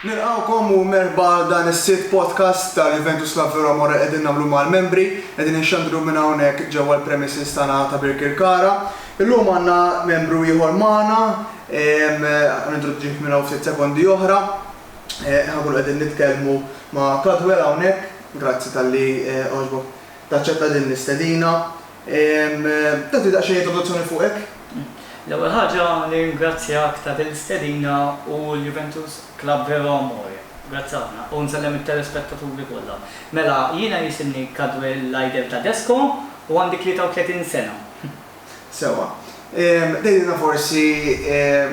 Nilqgħukom u merħba għal dan is-sitt podcast ta' Juventus La Vera More qegħdin nagħmlu mal-membri. Qegħdin inxandru minn hawnhekk ġewwa l-premises tagħna ta' Birkirkara. Illum għandna membru ieħor magħna, ħa nintroduċih minn hawn ftit sekondi oħra. Ħa nkunu qegħdin nitkellmu ma' Cadwell hawnhekk. Grazzi talli għoġbok taċċetta din l-istedina. Tagħti daqsxejn introduzzjoni fuqek? L-ewwel ħaġa nirringrazzjak ta' din l-istedina u l-Juventus Club Vero Amore. Grazzi ħafna. U nsellem it-telespettaturi kollha. Mela, jiena jisimni Cadwell Lydell Tadesco u għandi 33 sena. Sewwa. Tgħidilna forsi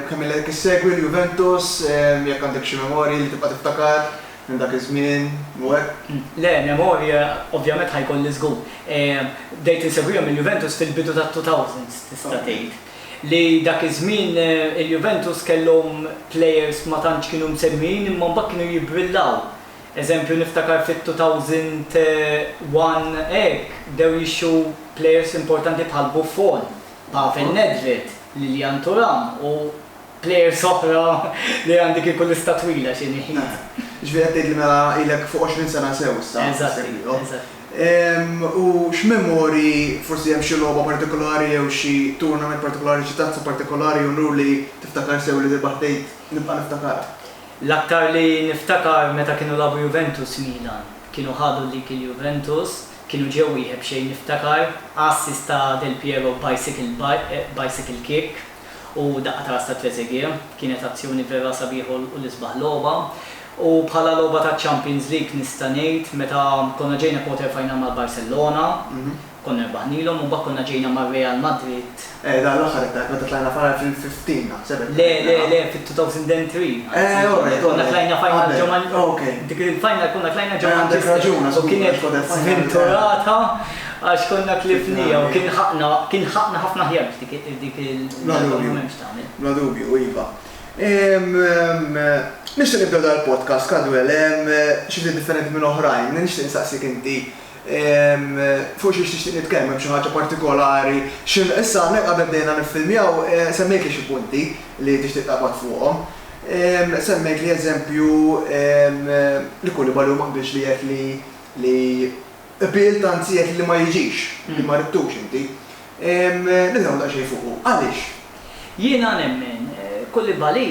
kemm ilek issegwi l-Juventus, jekk għandek xi memorji li tibqa' tiftakar Minn dak iż-żmien, Nwed? Le, memorje ovvjament ħa jkolli żgur. Bdejt insegwihom il-Juventus fil-bidu tat-two thousands, tista' tgħid. Li dak iż-żmien il-Juventus kellhom plejers ma tantx kienu msemmijin imma mbagħad kienu jibbrillaw. Eżempju niftakar fit-two thousand one hekk bdew jixtru plejers importanti bħal Buffon, Pavel Nedved, Lilian Thuram u Players oħra li għandi kieku lista twila xi ngħid. Jiġifieri qed tgħidli mela ilek fuq 20 sena sew issa qed issegwihom. Eżatt. U x'memorji, forsi hemm xi logħba partikolari jew xi tournament partikolari, xi tazza partikolari jew nur li tiftakar sew li tirbaħ tgħid nibqa' niftakarha? L-aktar li niftakar meta kienu lagħbu Juventus Milan. Kienu ħadu dik il-Juventus, kienu ġew wieħed b'xejn niftakar assist ta' Del Piero b'bicycle kick. U daqqa ta' ras ta' Trezeguet kienet azzjoni vera sabiħa u l-isbaħ logħba. U bħala logħba ta' Champions League nista' ngħid meta konna ġejna quarter final mal-Barcellona, konna rbaħnilhom u mbagħad konna ġejna mar-Real Madrid. Eh, dan l-aħħar qed ngħid meta tlajna final fil-2015 naħseb qed ngħid. Le, le, le, fit-2003. Eh, all right, all right. Konna tlajna final ġo Man-. Qabel, ok. Dik il-final konna tlajna ġo Manchester. Eh, għandek raġun, għax u kienet żvinturata għax konna tlifniha u kien ħaqqna, kien ħaqqna ħafna aħjar. Bla dubju, iva. Nixtieq nibda dal-podcast, Cadwell, xi ftit differenti minn oħrajn. Nixtieq insaqsik inti fuq xiex tixtieq nitkellem, hemm xi ħaġa partikolari? Issa hawnhekk qabel bdejna niffilmjaw semmejtli xi punti li tixtieq taqbad fuqhom. Semmejtli eżempju li Koulibaly hu ma qbilx li jgħid li qbilt anzi jgħid li ma jiġix, li ma ridtux inti. Nitkellmu daqsxejn fuqu. Għaliex? Jiena nemmen, Koulibaly,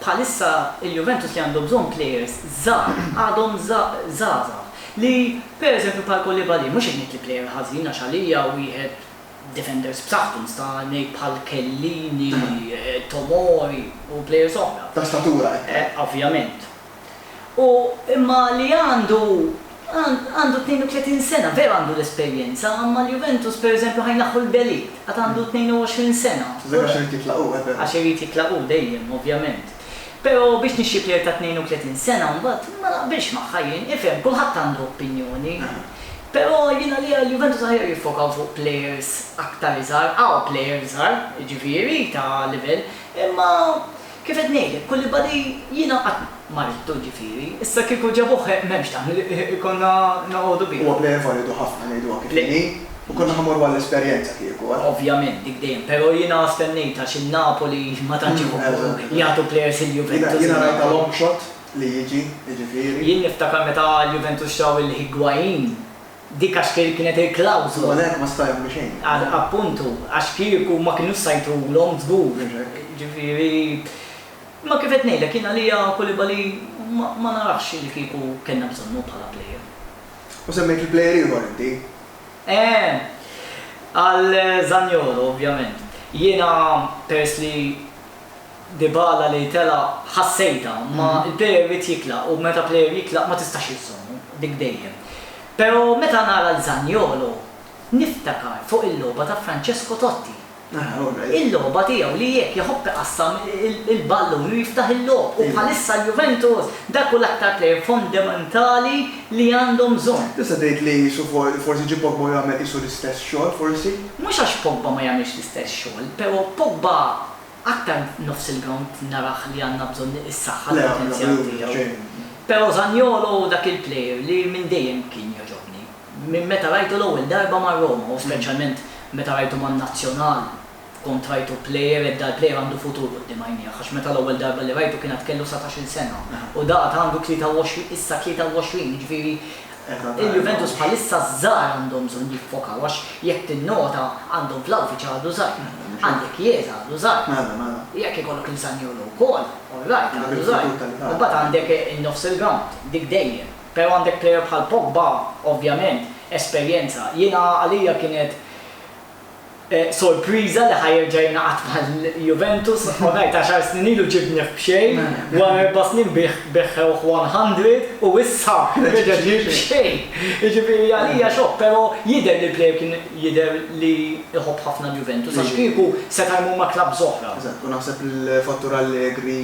bħalissa il-Juventus li għandu bżonn plejers żgħar, għadhom żgħażagħ, li pereżempju bħal Koulibaly, mhux qed ngħid li plejer ħażin għax għalija wieħed defenders b'saħħtu, nista' ngħid bħal Chiellini, Tomori u plejers oħra. Ta' statura, qed tgħid. Ovvjament. u imma li għandu għandu 32 sena, veru għandu l-esperjenza, imma l-Juventus pereżempju ħa jnaħħu lil De Ligt, għad għandu 22 sena. Tużek għax irid jitlaq hu, eh veru. Għax irid jitlaq hu dejjem, ovvjament. Pero biex nixtri plejer ta' 32 sena mbagħad ma naqbilx magħha jien, ifhem, kulħadd għandu opinjoni. Pero jien għalija l-Juventus aħjar jiffokaw fuq plejers aktar iżgħar, hawn plejers żgħar, jiġifieri ta' livell, imma, Kif qed ngħidlek, kulli body jiena qatt ma ridtu ġifieri, issa kieku ġabuh m'hemmx dan li konna noqogħdu bih. Huwa plejer validu ħafna ngħiduha kif inhi u konna ħa mmorru għall-esperjenza kieku, eh. Ovvjament dik dejjem, però jiena stennejt għax in-Napoli ma tantx iħobbu jagħtu plejers il-Juventus. Jiena rajtha long shot li jiġi, jiġifieri. Jien niftakar meta l-Juventus xtraw lil Higuain, Dik għax kienet il-klawżola. U għalhekk ma sta' jagħmlu xejn. Appuntu, għax kieku ma kinux sa jtulhom żgur. Mhux hekk. Ġifieri, imma kif qed ngħidlek jien għalija Koulibaly ma narax li kieku kellna bżonnu bħala plejer. U semmejt il-plejer ieħor inti. Eeh, għal Zaniolo ovvjament. Jiena peress li. Dybala li telaq ħassejtha, ma l-player irid jitlaq u meta player jitlaq ma tistax iżżommu, dik dejjem. Pero meta nara l Zaniolo niftakar fuq il-logħba ta' Francesco Totti. Il-logħba tiegħu li jekk iħobb iqassam il-ballun u jiftaħ il-logħob u bħalissa l-Juventus dak hu l-aktar player fondementali li għandhom bżonn. Tista' tgħid li qisu forsi ġie Pogba u jagħmel qisu l-istess xogħol forsi? Mhux għax Pogba ma jagħmilx l-istess xogħol, pero Pogba Aktar nofs il-grawnd narah li għandna bżonn issaħħa l-potenzjal tiegħu. Pero Zaniolo hu dak il-plejer li minn dejjem kien jogħġobni. Minn meta rajtu l-ewwel darba ma' Roma u speċjalment meta rajtu man-Nazzjonal kont rajtu plejer ed dal-plejer għandu futur quddiem għajnieh għax meta l-ewwel darba li rajtu kien għad kellu satax-il sena u da għad għandu 23 issa 23 jiġifieri Il-Juventus bħalissa ż-żgħar għandhom bżonn jiffokaw għax jekk tinnota għandhom Vlahovic għadu żgħir, għandek Chiesa għadu żgħir, jekk ikollok lil Zaniolo wkoll, all right għadu żgħir. Imbagħad għandek in-nofs il-grawnd, dik dejjem. Però għandek plejer bħal Pogba, ovvjament, esperjenza. Jiena għalija kienet. sorpriża li ħa jerġa' jingħaqad mal-Juventus u ngħid għaxar snin ilu ġibnieh b'xejn, wara erba' snin beħħewh 100 u issa reġa' ġie b'xejn. Jiġifieri għalija xokk, però jidher li l-plejer kien jidher li jħobb ħafna l-Juventus għax kieku seta' jmur ma' klabbs oħra. Eżatt, u naħseb li l-fattur Allegri.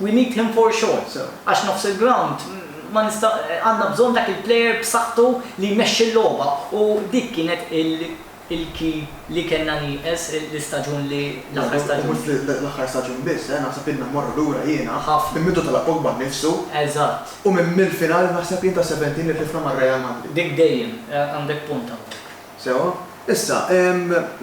We need him for sure, sir, għax nofs il-grawnd ma nista' għandna bżonn dak il-player b'saħħtu li jmexxi l-logħba u dik kienet il-key li kellna nieqes l-istaġun li l-aħħar staġun. U mhux l-aħħar staġun biss, eh, naħseb ilna mmorru lura jiena. Ħafna. Minn meta tela' Pogba nnifsu. Eżatt. U minn mill-final naħseb jien ta' seventeen li tlifna ma' Real Madrid. Dik dejjem, għandek punt hawnhekk. Sewwa. Issa,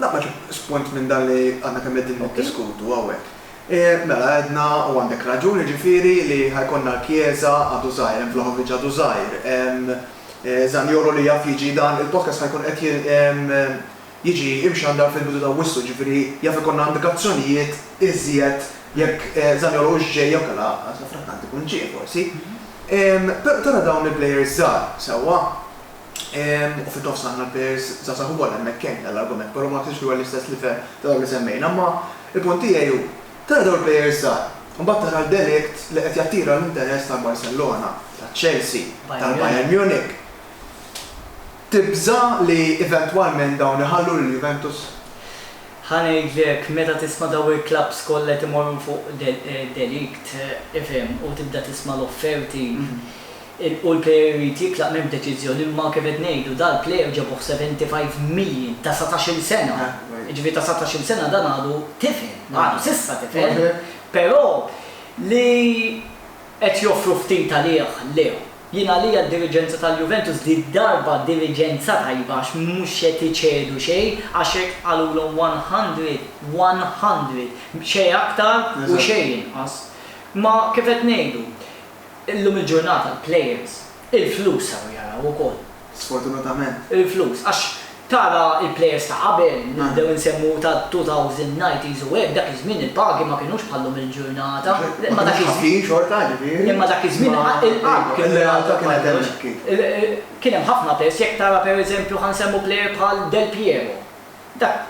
naqbad xi punt minn dan li għadna kemm qegħdin niddiskutu hawnhekk. E, mela għedna, u għandek raġun, jiġifieri li ħa jkollna l-kjieża għadu żgħir, hemm Vlahovic għadu żgħir, hemm Zaniolo li jaf jiġi dan il-podcast ħa jkun qed jiġi imxandar fil-bidu ta' Awwissu, jiġifieri jaf ikollna indikazzjonijiet iżjed jekk Zaniolo hux ġej jew kellha saffrakkant ikun ġie forsi. Tara dawn il-plejers żgħar, sewwa? u fit-nofs għandna players żgħażagħ ukoll, hemmhekk hemm dan l-argument, però ma naħsibx li huwa l-istess livell ta' dawk li semmejna. Imma il-punt tiegħi hu, tara dawn il-players żgħar, imbagħad tara l-De Ligt li qed jattira l-interess tal-Barcellona, taċ-Chelsea, tal-Bayern Munich, tibża' li eventwalment dawn iħallu lil Juventus? Ħa ngħidlek, meta tisma' dawn il-clubs kollha qed imorru fuq De Ligt, tifhem, u tibda tisma' l-offerti, U l-player irid jitlaq m'hemmx deċiżjoni imma kif qed ngħidu dal-player ġabuh 75 million ta' satax-il sena, jiġifieri ta' satax-il sena dan għadu tifel, għadu s'issa tifel, però li qed joffru ftit għalih le. Jien għalija d-diriġenza tal-Juventus di d-darba diriġenza tajba għax mhux qed iċedu xejn għax hekk qalulhom 100, 100, xejn aktar u xejn inqas. Imma kif qed ngħidu, Illum il-ġurnata l-players il-flus saru jaraw ukoll. Sfortunatament. Il-flus. Għax tara l-players ta' qabel, nibdew insemmu ta' 2000, 90s u hekk, dak iż-żmien il-pagi ma kinux bħal llum il-ġurnata. Ma kinux ħafin xorta, ġifieri. Imma dak iż-żmien il-qalb kien jgħadda kollox. Kien hemm ħafna pes, jekk tara pereżempju ħa nsemmu player bħal Del Piero. Dak.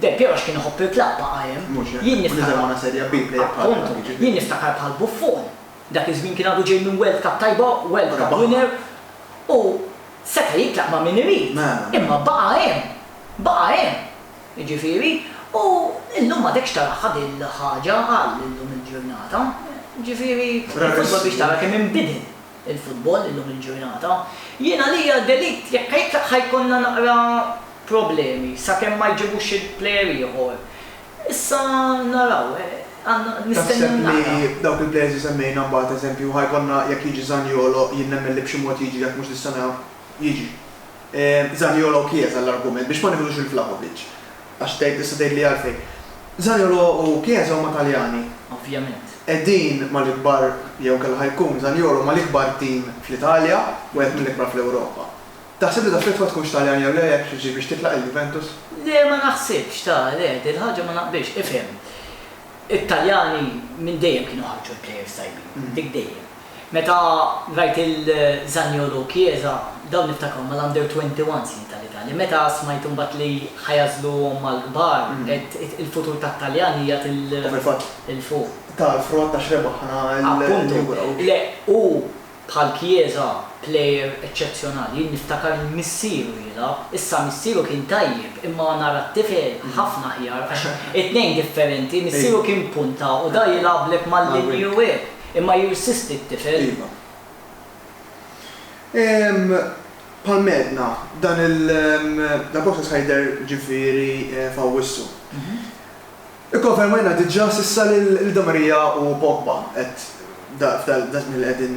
Del Piero għax kien iħobb il-klabb baqa' hemm. Mhux hekk? Jien niftakar. U niżel Għona Serie B plejer bħal dak, jiġifieri. Appuntu. Jien niftakar bħal Buffon. Dak iż-żmien kien għadu ġej minn World Cup tajba, World Cup winner. U seta' jitlaq ma' min irid. Mela, mela. Imma baqa' hemm. Baqa' hemm. Jiġifieri, u llum m'għadekx taraha dil-ħaġa għal illum il-ġurnata. Jiġifieri, il-futbol biex tara kemm inbidel. il-futbol illum il-ġurnata. Jien għalija De Ligt jekk jitlaq ħa jkollna naqra problemi sakemm ma jġibux xi player ieħor. Issa naraw, għandna, nistennew naraw. Taħseb li dawk il-players li semmejna mbagħad eżempju ħa jkollna jekk jiġi Zaniolo jien nemmen li b'xi mod jiġri jekk mhux dis-sena jiġi. Zaniolo Chiesa l-argument biex ma nieħdux lil Vlahovic. Għax tgħid, tista' tgħidli għalfejn. Zaniolo u Chiesa huma Taljani. Ovvjament. Qegħdin mal-ikbar, jew inkella ħa jkun Zaniolo mal-ikbar tim fl-Italja, wieħed mill-ikbar fl-Ewropa. Taħseb li taffettwa tkunx Taljan jew le jekk jiġi biex titlaq il-Juventus? Le ma naħsibx, ta, le, dil-ħaġa ma naqbilx. Ifhem. It-Taljani minn dejjem kienu ħarġu l-players tajbin, dik dejjem. Meta rajt lil Zaniolo u Chiesa, dawn niftakarhom mal-under 21 snin tal-Italja. Meta smajt imbagħad li ħa jagħżluhom mal-kbar, għedt il-futur tat-Taljani qiegħed il-fuq. U fil-fatt ta l-frott għax rebaħna l-Europa League. Appuntu. Le, hu Bħal Chiesa, plejer eċċezzjonali. Jien niftakar lil missieru jilgħab. Issa missieru kien tajjeb, imma nara t-tifel ħafna aħjar għax it-tnejn differenti, missieru kien punta u da jilgħablek mal-linji u hekk, imma jirsisti t-tifel. Iva. Ehm, bħalma għedna, dan il, dal-process ħa jidher ġifieri f'Awwissu. Ikkonfermajna diġà s'issa lil Di Maria u Pogba, qed f'daż-żmien li qegħdin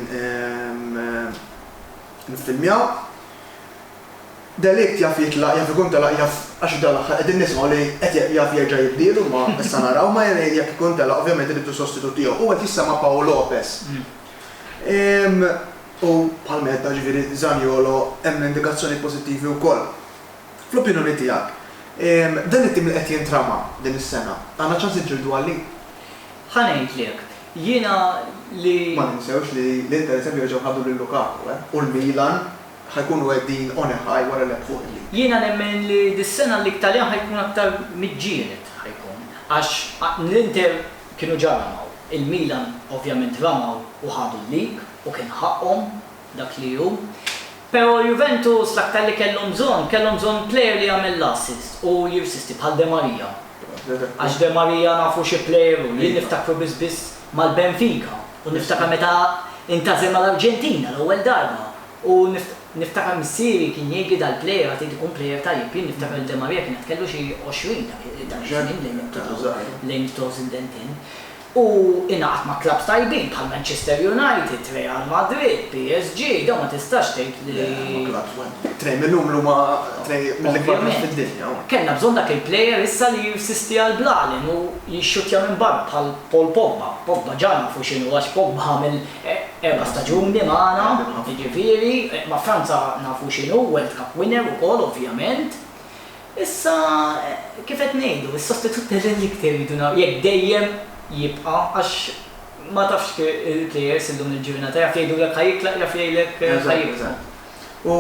niffilmjaw. De Ligt jaf jitlaq, jaf ikun telaq, jaf għax dal-aħħar qegħdin nismgħu li qed jaf jerġa' jibdielu imma issa naraw, imma jekk ikun telaq ovvjament irridu sostitut tiegħu. U qed jissema' Pau Lopez. U bħal meta, jiġifieri Zaniolo hemm indikazzjonijiet pożittivi wkoll. Fl-opinjoni tiegħek, dan it-tim li qed jintrama din is-sena, għandna ċans niġġieldu għalih? Ħa ngħidlek, jiena li. Ma ninsewx li l-Inter eżempju reġgħu ħadu lil Lukaku, eh, u l-Milan ħa jkunu qegħdin on a high wara l-Eb Forlì. Jiena nemmen li dis-sena l-Italjan ħa jkun aktar miġġieled ħa jkun, għax l-Inter kienu ġa ramaw, il-Milan ovvjament ramaw u ħadu l-lig u kien ħaqqhom, dak li hu. Pero' Juventus l-aktar li kellhom bżonn, kellhom bżonn player li jagħmel l-assist u jirsisti bħal De Maria. Għax De Maria nafu xi player hu, jien niftakru biss biss mal-Benfica u niftakar meta intażel mal-Arġentina l-ewwel darba u niftakar missieri kien jgħidli dal-player għad irid ikun player tajjeb, jien niftakar li De Maria kien għad kellu xi 20 dak iż-żmien lejn 2000 u lejn 2010. Hu ingħaqad ma' klabbs tajbin bħal Manchester United, Real Madrid, PSG, dawn ma tistax tgħid li. Le, huma klabbs waħda. Tnejn minnhom l-huma tnejn mill-ikbar klabbs fid-dinja. Ovvjament. Kellna bżonn dak il-player issa li jirsisti għall-blalen u jixxuttja minn barra bħal Paul Pogba. Pogba ġa nafu x'inhu għax Pogba għamel erba' staġuni magħna, jiġifieri ma' Franza nafu x'inhu, World Cup winner ukoll ovvjament. Issa, kif qed ngħidu, is-sostitut tal-Elixir iridu naraw jekk dejjem jibqa' għax ma tafx kif il-plejers illum il-ġurnata jaf jgħidulek ħa jitlaq jaf jgħidlek ħa jibqa'. U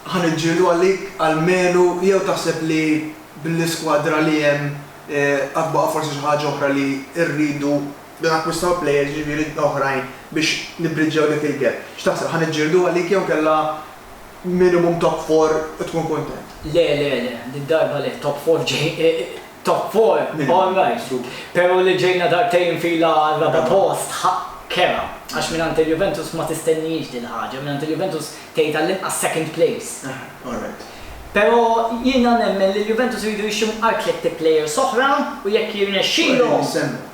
ħa niġġieldu għalik almenu jew taħseb li bl-iskwadra li hemm għad baqa' forsi xi ħaġa oħra li rridu nakkwistaw plejers jiġifieri oħrajn biex nibbriġġjaw dak il-gap. X'taħseb, ħa niġġieldu għalik jew inkella minimum top four u tkun kuntent. Le le le, did-darba le, top four ġej, top four all right, pero li ġejna darbtejn fila għar-raba' post ħa kera, għax mingħand il-Juventus ma tistennihiex dil-ħaġa, mingħand il-Juventus tgħid għall-inqas second place. Aha, all right. Pero jiena nemmen li l-Juventus iridu jixtru mqar tliet players oħra u jekk jirnexxilhom,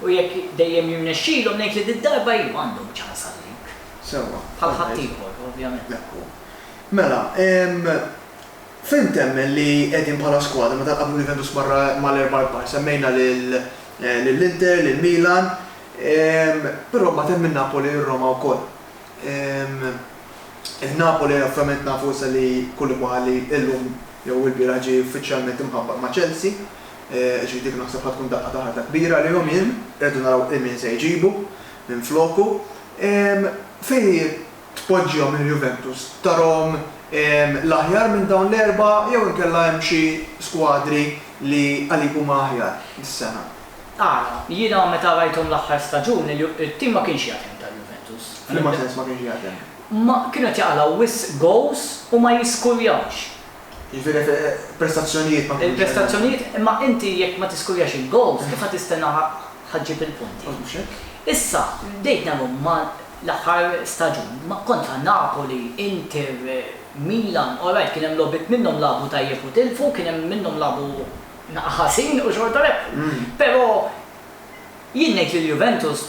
u jekk dejjem jirnexxilhom, ngħid li did-darba iva għandhom ċans għal-lig. Sewwa. Bħal ħaddieħor, ovvjament. Hekk hu. Mela, fejn temmen li qegħdin bħala skwadra meta nqabblu l-Juventus marra mal-erba' l-kbar? Semmejna lill-Inter, lill-Milan, però mbagħad hemm in-Napoli u r-Roma wkoll. In-Napoli ovvjament nafu issa li Koulibaly illum jew ilbieraħ ġie uffiċjalment imħabbar ma' Chelsea, ġifieri dik naħseb ħa tkun daqqa ta' ħarta kbira għalihom jien. Irridu naraw ilmin se jġibu minfloku. Fejn tpoġġihom il-Juventus? Tarahom l-aħjar minn dawn l-erbgħa jew inkella hemm xi skwadri li għalik huma aħjar dis-sena? Ara, jiena meta rajthom l-aħħar staġun, it-tim ma kienx jaħdem tal-Juventus. F'liema sens ma kienx jaħdem? Kienu qed jaqalgħu wisq goals u ma jiskurjawx. Jiġifieri fil-prestazzjonijiet ma tkunx. Il-prestazzjonijiet, imma inti jekk ma tiskurjax il-gowls kif ħa tistenna ħa ġġib il-punti? Mhux hekk. Issa, bdejt nagħmilhom ma' l-aħħar staġun, ma' kontra Napoli, Inter, Milan, orajt kien hemm logħbiet minnhom lagħbu tajjeb u tilfu, kien hemm minnhom lagħbu ħażin u xorta rebħu. Però Jien ngħid li l-Juventus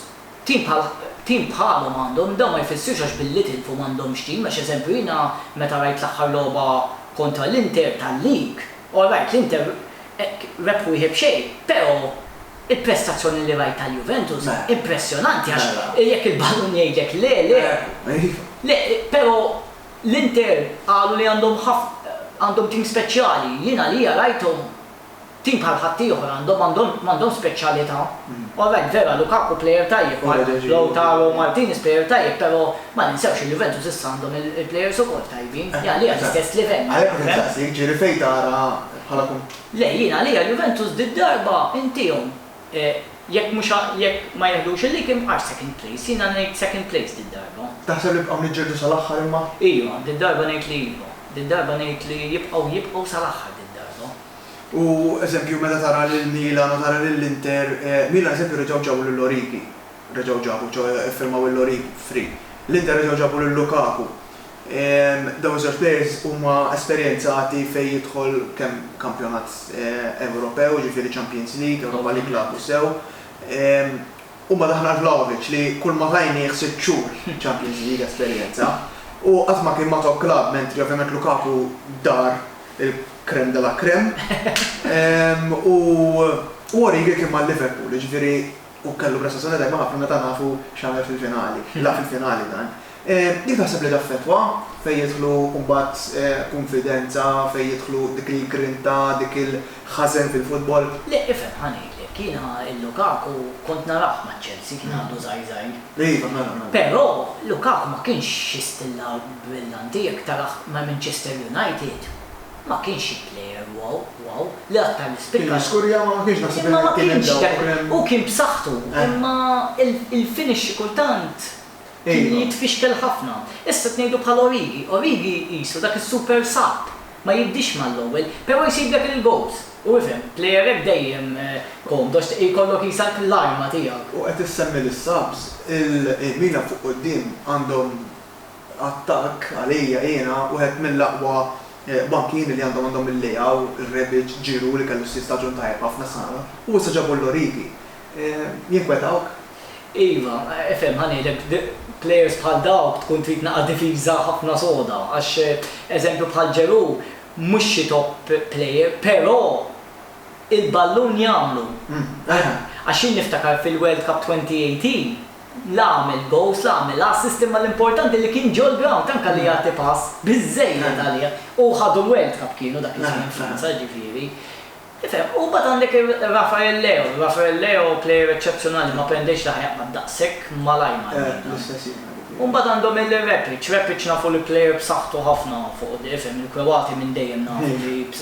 tim bħal tim bħalhom għandhom, dan ma jfissirx għax billi tilfu m'għandhomx tim għax eżempju jiena meta rajt l-aħħar logħba kontra l-Inter tal-League, all right l-Inter hekk rebħu wieħed b'xejn, però il-prestazzjoni li rajt tal-Juventus impressjonanti għax jekk il-ballun jgħidlek le, le, le, però l-Inter qalu li għandhom ħafna għandhom tim speċjali, jien għalija rajthom. Tim bħal ħaddieħor għandhom għandhom għandhom speċjalità. All right, vera, Lukaku plejer tajjeb, Lautaro Martinez plejer tajjeb, però ma ninsewx li Juventus issa għandhom il-plejers ukoll tajbin, li għalija l-istess livell. Għalhekk qed insaqsik, ġieli fejn tara bħala. Le, jien għalija Juventus did-darba intiehom. Jekk mhux jekk ma jiħdux il-likim għax second place? Jiena ngħid second place did-darba. Taħseb li jibqgħu niġġieldu sal-aħħar imma? Iva, did-darba ngħid li iva. Did-darba ngħid li jibqgħu jibqgħu sal-aħħar did-darba. U eżempju meta tara lil Milan u tara lil Inter, Milan eżempju reġgħu ġabu lil Origi. reġgħu ġabu, ġo iffirmaw il-Lloris free. L-Inter reġgħu ġabu lil Lukaku. Dawn iż-żewġ players huma esperjenzati fejn jidħol kemm kampjonat Ewropew, jiġifieri Champions League, Europa League lagħbu sew. Huma daħlu għal Vlahovic li kulma tajnieh sitt xhur Champions League esperjenza. Hu qatt ma kien ma' top club mentri ovvjament Lukaku dar il-crème de la crème. U Origi kien ma' Liverpool, jiġifieri. u kellu prestazzjoni tajba ħafna meta nafu x'għamel fil-finali. Lagħab fil-finali dan. Kif taħseb li taffettwa fejn jidħlu mbagħad kunfidenza, fejn jidħlu dik il-grinta, dik il-ħażen fil-futbol? Le, ifhem, ħa ngħidlek. Jiena lil Lukaku kont narah ma' Chelsea, kien għadu żgħir żgħir. Iva, kont narah, narah. Però Lukaku ma kienx xi stil lagħab brillanti jekk tarah ma' Manchester United. Ma kienx xi player wow, wow, li aktar li spikka. Kien jiskurja ma kienx naħseb li kien hemm dawk li kien hemm. Hu kien b'saħħtu imma il-finish xi kultant kien jitfixkel ħafna. Issa qed ngħidu bħal Origi, Origi qisu dak is-super sub, ma jibdiex mal-ewwel, però jsib dak il-goals. U ifhem, player hekk dejjem komdu għax jkollok qisha l-arma tiegħek. U qed issemmi lis-subs, il-Milan fuq quddiem għandhom Attakk, għalija, jiena, wieħed mill-aqwa bankieri li għandhom għandhom il-Leao, il-Rebic, Giroud li kellu s-sitt staġun tajjeb ħafna s-sena u issa ġabu l-Origi. Jinkwetawk? Iva, ifhem, ħa ngħidlek, plejers bħal dawk tkun trid naqa' difiża ħafna soda għax eżempju bħal Giroud mhux xi top plejer però il-ballun jagħmlu. Għax jien niftakar fil-World Cup 2018, La għamel goals, la għamel assist imma l-importanti li kien ġol-ground tant kelli jagħti pass biżżejjed għalih u ħadu l-World Cup kienu dak iż-żmien Franza ġifieri. Tifhem? U mbagħad għandek Rafael Leao, Rafael Leao player eċċezzjonali ma prendiex la ħjaqbad daqshekk malajr mal-Milan. U mbagħad għandhom il-Repic, Repic nafu li player b'saħħtu ħafna fuq quddiem, tifhem, il-Kroati minn dejjem nafu li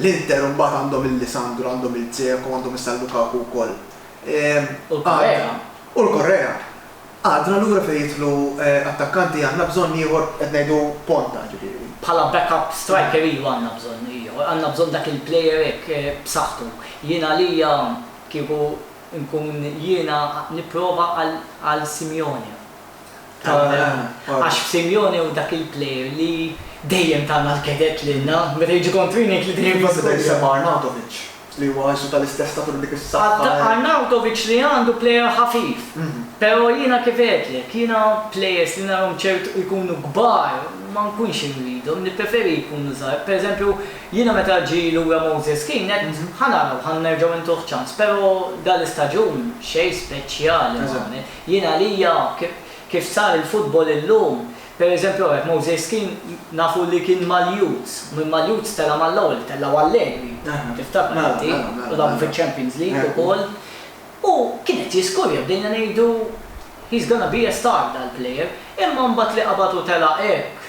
L-Inter imbagħad għandhom il-Lisandro, għandhom il-Dzeko, għandhom issa l-Lukaku wkoll. U l-Correa. U l-Correa. Għadna lura fejn jidħlu attakkanti, għandna bżonn ieħor, qed ngħidu ponta ġifieri. Bħala backup striker iva għandna bżonn ieħor, għandna bżonn dak il-player hekk b'saħħtu. Jien għalija kieku nkun jiena nipprova għal Simeone. Għax Simeone hu dak il-player li dejjem ta mal-kedett lilna, meta jiġi kontri ngħid li dejjem jiskuża. Jien forsi nsemma' Arnautovic li huwa qisu tal-istess statur u dik is-saħħa. Arnautovic li għandu player ħafif, pero' jiena kif għedtlek, jiena players li narhom ċertu jkunu kbar ma nkunx irridhom, nippreferi jkunu żgħar. Per eżempju, jiena meta ġie lura Moses Kean għedt ħa naraw, ħa nerġgħu ntuh ċans, pero' dal-istaġun xejn speċjali ma għamel. Jien għalija kif sar il-futbol illum, per eżempju hawnhekk Moses Kean nafu li kien mal-youths, minn mal-youths tela' mal-ewwel, tellgħu Allegri, tiftakar inti, u lagħbu fiċ-Champions League ukoll. U kien qed jiskurja, bdejna ngħidu he's gonna be a star dal-player, imma mbagħad li qabad u tela' hekk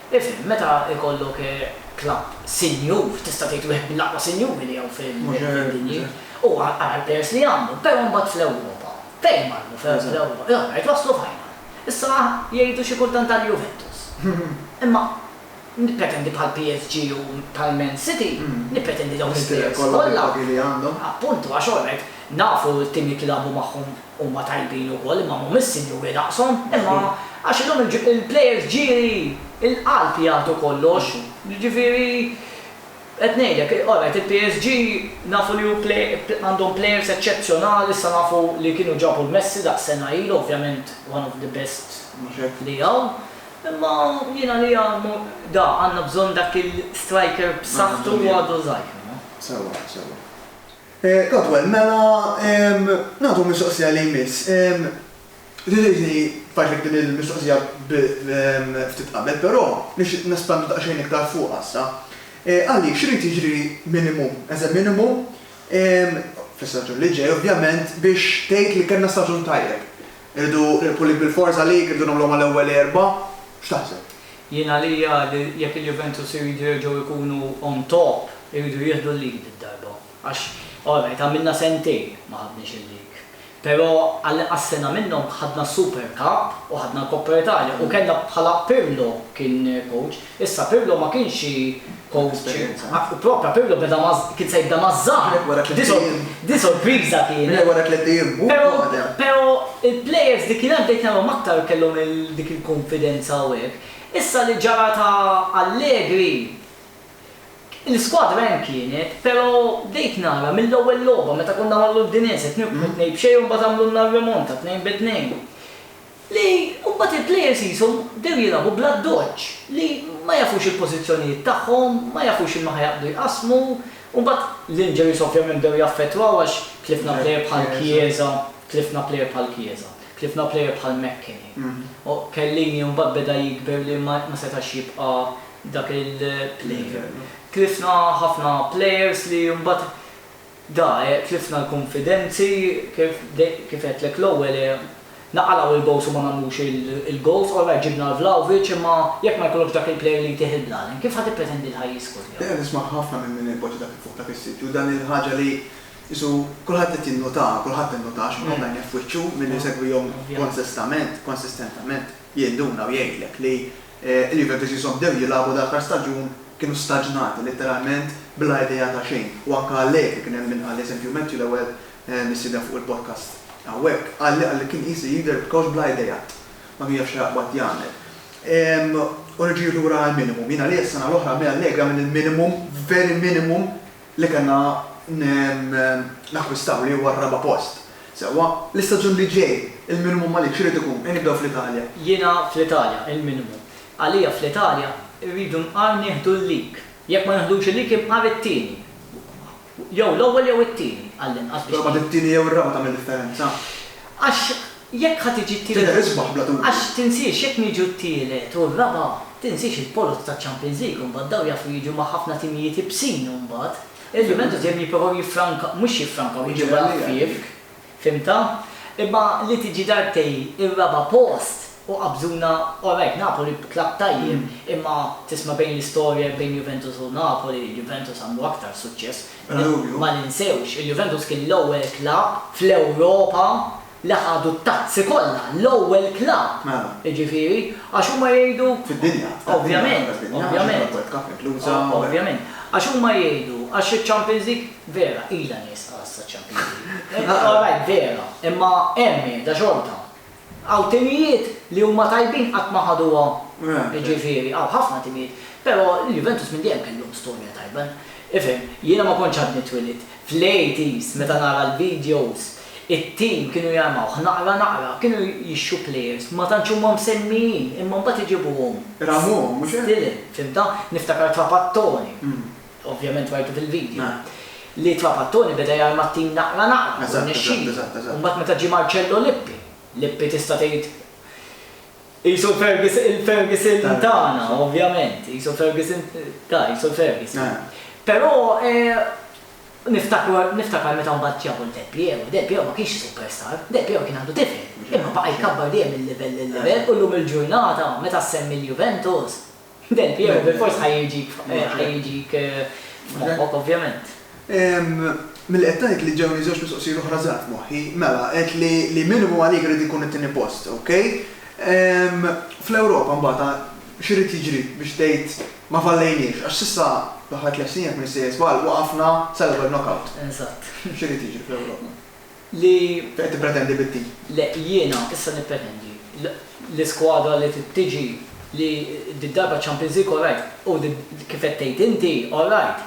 Ifhem, meta jkollok klabb sinjur, tista' tgħid wieħed mill-aqwa sinjuri li hawn fid-dinja, u ara l-plejers li għandhom, però mbagħad fl-Ewropa, fejn marru fl-Ewropa? L-aħħar waslu final. Issa jgħidu xi kultant tal-Juventus. Imma nippretendi bħal PSG u bħal Man City, nippretendi dawn il-plejers kollha. Appuntu, għax orajt, nafu t-timijiet li lagħbu magħhom Huma tajbin ukoll imma mhumiex sinjuri daqshom. Imma għax illum il-plejers ġieli, il-qalb jagħtu kollox. Jiġifieri qed ngħidlek, alright il-PSG nafu li hu għandhom plejers eċċezzjonali, issa nafu li kienu ġabu l-Messi daqs sena ilu, ovvjament one of the best li hawn. Imma jien għalija da għandna bżonn dak il-striker b'saħħtu u għadu żgħir. Sewwa, sewwa. Caldwell, Mela, nagħtu mistoqsija li jmiss. Tgħidilni f'għajnejk din il-mistoqsija ftit qabel, però nixtieq nespandu daqsxejn iktar fuqha issa. Qalli, x'irid jiġri minimum, as a minimum, fl-istaġun li ġej ovvjament, biex tgħid li kellna staġun tajjeb? Irridu nirbħu l-lig bil-forża lig, irridu nagħmluha mal-ewwel erba'? X'taħseb? Jien għalija li jekk il-Juventus iridu jerġgħu jkunu on top iridu jieħdu l-lead id-darba għax alright għamilna sentejn ma ħadniex il-lig pero għall-inqas sena minnhom ħadna s-Super Cup u ħadna l-Coppa Italia u kellna bħala Pirlo kien coach issa Pirlo ma kienx xi Propja Pirlo beda ma' kien se jibda ma' żgħar. Din sorpriża kienet. Pero pero il-players li kien hemm bdejt narahom aktar kellhom il dik il-kunfidenza u hekk. Issa li ġara ta' Allegri, l-iskwadra hemm kienet, pero bdejt nara mill-ewwel logħba meta konna mal-Udinese tnibqgħu tnejn b'xejn u mbagħad għamlulna r-remonta tnejn bi tnejn. li mbagħad il-players qishom bdew jilagħbu bl-addoċċ li ma jafux il-pożizzjonijiet tagħhom, ma jafux x'inhu ħa jaqbdu jqassmu, u mbagħad l-injuries ovvjament bdew jaffettwaw għax tlifna player bħal Chiesa, tlifna player bħal Chiesa, tlifna player bħal McKennie, u Chiellini mbagħad beda jikber li ma setax jibqa' dak il-player. Tlifna ħafna players li mbagħad Da, e, tlifna l-kunfidenzi, kif, kif għedtlek l-ewwel, e, naqalgħu il-goals u ma nagħmlux il-goals, all right ġibna l-Vlahovic imma jekk ma jkollokx dak il-player li jtih il-blalin, kif ħa tippretendi li ħa jiskor jew? Jiena nisma' ħafna minn min ipoġġi dak il-fuq dak is-sit u dan il-ħaġa li qisu kulħadd qed jinnutaha, kulħadd innutaha, x'kulħadd għajnejh f'wiċċu, min isegwihom konsistament, konsistentament, jinduna u jgħidlek li, Il-Juventus jisom bdew jilagħbu l-aħħar staġun kienu staġnati litteralment bla idea ta' xejn u anke Allegri kien hemm min qal eżempju Matthew l-ewwel mistieden fuq il-podcast hawnhekk qalli qalli kien qisu jidher b'kowċ bla idea ma kien jaf xi jaqbad jagħmel u reġgħu lura għall-minimum. Jien għalija s-sena l-oħra minn Allegri għamilt il-minimum, very minimum, li kellna nakkwistaw li huwa r-raba' post. Sewwa, l-istaġun li ġej, il-minimu Malik x'irid ikun? Ejn nibdew fl-Italja. Jiena fl-Italja, il-minimu. Għalija fl-Italja rridu nqar nieħdu l-lig. Jekk ma neħdux il-lig inqar it-tieni. Jew l-ewwel jew it-tieni għall-inqas biex. Però mbagħad it-tieni jew ir-raba' tagħmel differenza. Għax Jekk ħa tiġi t-tielet. Tidher isbaħ bla dubju. Għax tinsiex jekk niġu t-tielet u r-raba' tinsiex il-poloz taċ-Champions League mbagħad dawn jafu jiġu ma' ħafna timijiet ibsin mbagħad. Il-Juventus dejjem jipprovaw jiffrankaw, mhux jiffrankaw jiġu bla ħfief, fhimtha? Imma li tiġi darbtejn ir-raba' post u qabżuna, all right Napoli klabb tajjeb imma tisma' bejn l-istorja bejn Juventus u Napoli, Juventus għamlu aktar suċċess. Bla dubju. Ma ninsewx, il-Juventus kien l-ewwel klabb fl-Ewropa li ħadu t-tazzi kollha, l-ewwel klabb, jiġifieri, għax huma jgħidu. Fid-dinja. Ovvjament, ovvjament. Ovvjament. Għax huma jgħidu, għax iċ-Champions League, vera, ilha nieqsa issa ċ-Champions League. All right, vera, imma hemm qiegħda xorta. Hawn timijiet li huma tajbin qatt ma ħaduha, jiġifieri, hawn ħafna timijiet, però l-Juventus minn dejjem kellhom storja tajba. Ifhem, jiena ma kontx għadni twilidt, fl-80s meta nara l-videos, It-tim kienu jarmawh naqra naqra, kienu jixtru plejers, ma tantx huma msemmijin, imma mbagħad iġibuhom. Ramuhom, mhux hekk? Stilel, fhimtha? Niftakar Trapattoni, ovvjament rajtu fil-vidjo, li Trapattoni beda jarma t-tim naqra naqra u rnexxielu. U mbagħad meta ġie Marcello Lippi, Lippi tista' tgħid qisu l-Ferguson, il-Ferguson tagħna, ovvjament, qisu l-Ferguson, ta, qisu l-Ferguson. Però Niftakar meta mbagħad ġabu lil Del Piero, Del Piero ma kienx superstar, Del Piero kien għadu tifel, imma baqa' jkabbar dejjem minn livell lil livell u llum il-ġurnata meta ssemmi l-Juventus, Del Piero bilfors ħa jiġik f'moħħok ovvjament. Milli qed tgħid li ġewni żewġ mistoqsijiet oħra żgħar f'moħħi, mela għedt li li minimu għalik irid ikun it-tieni post, ok? Fl-Ewropa mbagħad, X'irid jiġri biex tgħid ma fallejniex? Għax s'issa fl-aħħar tliet snin jekk ma nissejjer żball waqafna sal-ewwel knockout. Eżatt. X'irid jiġri fl-Ewropa? Li. Xi qed tippretendi bit-tim? Le, jiena issa nippretendi l-iskwadra li trid tiġi li did-darba Champions League all right u kif qed tgħid inti all right.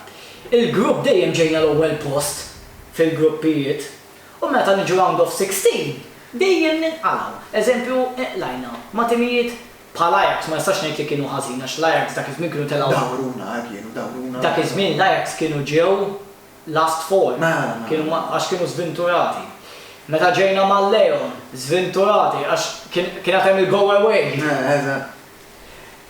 Il-grupp dejjem ġejna l-ewwel post fil-gruppijiet u meta niġu round of sixteen dejjem ninqalgħu. Eżempju inqlajna ma' timijiet Bħal Ajax ma nistax ngħid li kienu ħażin għax l-Ajax dak iż-żmien kienu telgħu. Dawruna, eh, kienu, dawruna. Dak iż-żmien l-Ajax kienu ġew last four. Mela, mela. Kienu ma, għax kienu żvinturati. Meta ġejna mal-Leon, żvinturati għax kien, kien għad hemm il-go away. Eh, eżatt.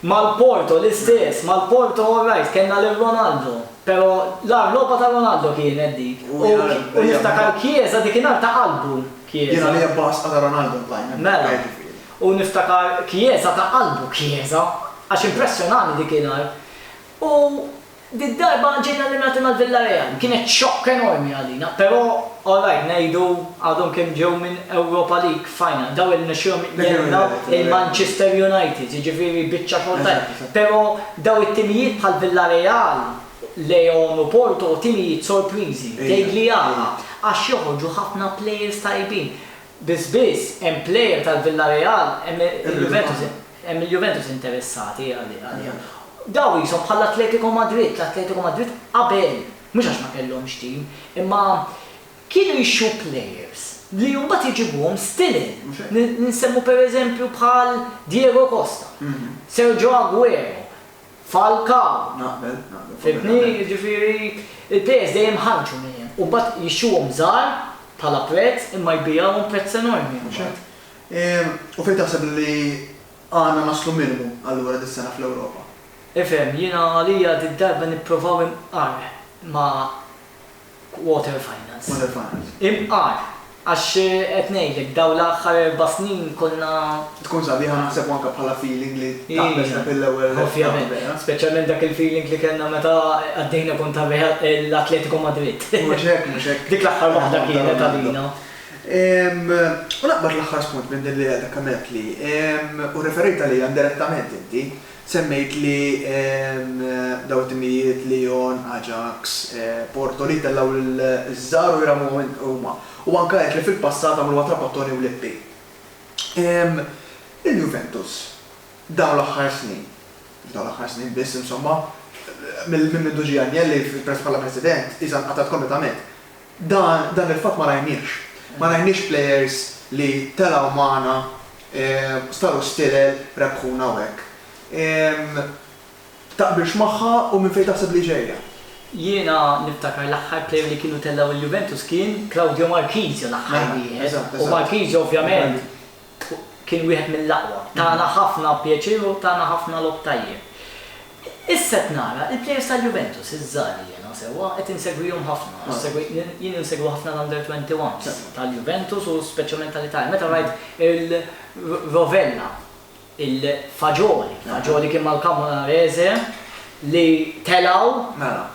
Mal-Porto l-istess, mal-Porto all right, kellna lil Ronaldo. Però l-agħar logħba ta' Ronaldo kienet dik. U U, jgħid, u niftakar Chiesa dik in-nhar ta' qalbu Chiesa. Jiena l-ebba asqa ta' Ronaldo ntajna. Mela. Ġifieri. u niftakar kjieża ta' qalbu kjieża għax impressjonani dik il-għar u did-darba ġejna li nagħtu mal-Villareal kienet xokk enormi għalina però alright ngħidu għadhom kemm ġew minn Europa League final daw irnexxielhom jgħinna lil Manchester United jiġifieri biċċa xogħol tajba però daw it-timijiet bħal Villareal, Leon u Porto timijiet sorpriżi, Degli Aja għax joħorġu ħafna players tajbin. Biss biss hemm player tal-Villareal, hemm il-Juventus, hemm il-Juventus interessati għaliha. Dawn qishom bħall-Atletico Madrid, l-Atletico Madrid qabel, mhux għax ma kellhomx team, imma kienu jixtru players li mbagħad iġibuhom stilin. Nsemmu pereżempju bħal Diego Costa, Sergio Aguero. Fal ka. Naqbel, naqbel. Fimtni? Jiġifieri il-plejers dejjem iħarrġu mejjem u mbagħad jixtruhom żgħar bħala prezz imma jbigħuhom prezz enormi imbagħad. U fejn taħseb li għandna naslu minimu allura dis-sena fl-Ewropa? Ifhem, jiena għalija did-darba nipprovaw inqar ma' Quarter finals. Quarter finals. Imqar, għax qed ngħidlek dawn l-aħħar erba' snin konna. Tkun sabiħa naħseb u anke bħala feeling li taqbeż dak il-ewwel. Ovvjament. Speċjalment dak il-feeling li kellna meta għaddejna kontra l-Atletico Madrid. Mhux hekk, mhux hekk. Dik l-aħħar waħda kienet għalina. U naqbad l-aħħar spunt minn din li għadek għamilt li, u rreferejt għaliha indirettament inti, Semmejt li dawn it-timijiet, Lyon, Ajax, Porto, li jittellgħu liż-żgħar u jrammuhom huma. U anke għedt li fil-passat għamluha Trapattoni u Lippi. Il-Juventus dawn l-aħħar snin, mhux dawn l-aħħar snin biss insomma, minn mindu ġie Agnelli bħala President, iżgħar nqatgħet kompletament. Dan il-fatt ma rajniehx. Ma rajniex plejers li telgħu magħna, staru stilel, rebħuna u hekk. Taqbilx magħha u minn fejn taħseb li ġejja? Jiena niftakar l-aħħar plejer li kienu tellgħu il-Juventus kien Claudio Marchisio l-aħħar wieħed. U Marchisio ovvjament kien wieħed mill-aqwa. Tana ħafna pjaċir u tana ħafna logħob tajjeb. Issa qed nara l-plejers tal-Juventus iż-żgħar li jiena sewwa qed insegwihom ħafna. Jien insegwi ħafna l-Under 21s tal-Juventus u speċjalment tal-Italja. Meta rajt il-Rovella, il-Fagioli, Fagioli kien mal-Camoranesi li telgħu